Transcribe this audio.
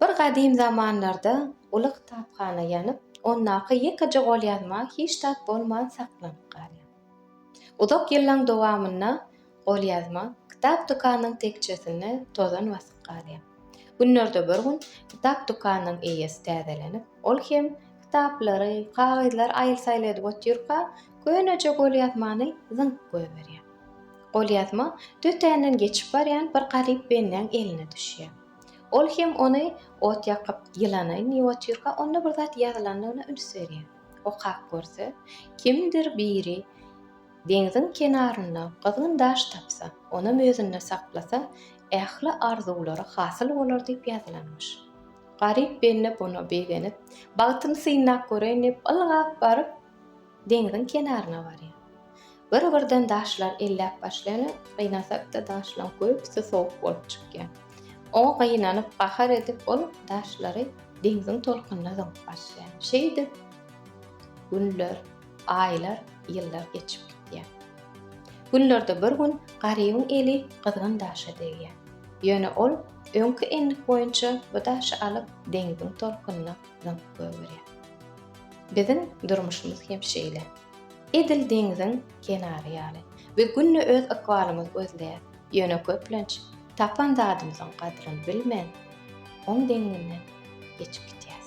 Bir gadym zamanlarda uly kitaphana ýanyp, ondaky ýekeje golýazma hiç zat bolman saklanyp galýar. Uzak ýyllaň dowamynda golýazma kitap dükanynyň tekjesinde tozan basyp galýar. Günlerde bir gün kitap dükanynyň eýesi täzelenip, ol hem kitaplary, kagyzlary aýyl-saýyl edip otyrka, köneje golýazmany zyňyp goýberýär. Golýazma tötänden geçip barýan bir garyp bendäň eline düşýär. Ol hem ony ot ýakyp ýylanaýyn diýip otyrka, onda bir zat ýazylandygyna üns berýär. Okap görse, kimdir biri deňziň kenarynda gyzgyn daş tapsa, onam özünde saklasa, ähli arzuwlary hasyl bolar diýip ýazylanmyş. Garyp bende buna begenip, bagtymy synlap göreýin diýip, ylgap baryp, Deňziň kenaryna barýar. Bir-birden daşlar elläp başlaýan, gynasak-da daşlaryň köpüsi sowuk bolup çykýar. Oňa gynanyp, gahar edip ol daşlary deňziň tolkunyna zyňyp başlaýar. Şeýdip günler, aýlar, ýyllar geçip gidýär. Günlerde bir gün Garybyň eli gyzgyn daşa degýär. Ýöne ol öňki endik boýunça bu daşy alyp deňziň tolkunyna Zat gögerýär. Biziň durmuşymyz hem şeýle. Edil deňziň kenary ýaly we günde öz ykbalymyz gözleýär. Ýöne köplenç tapan zadymyzyň gadryny bilmän, oň deňinden geçip gidýäs.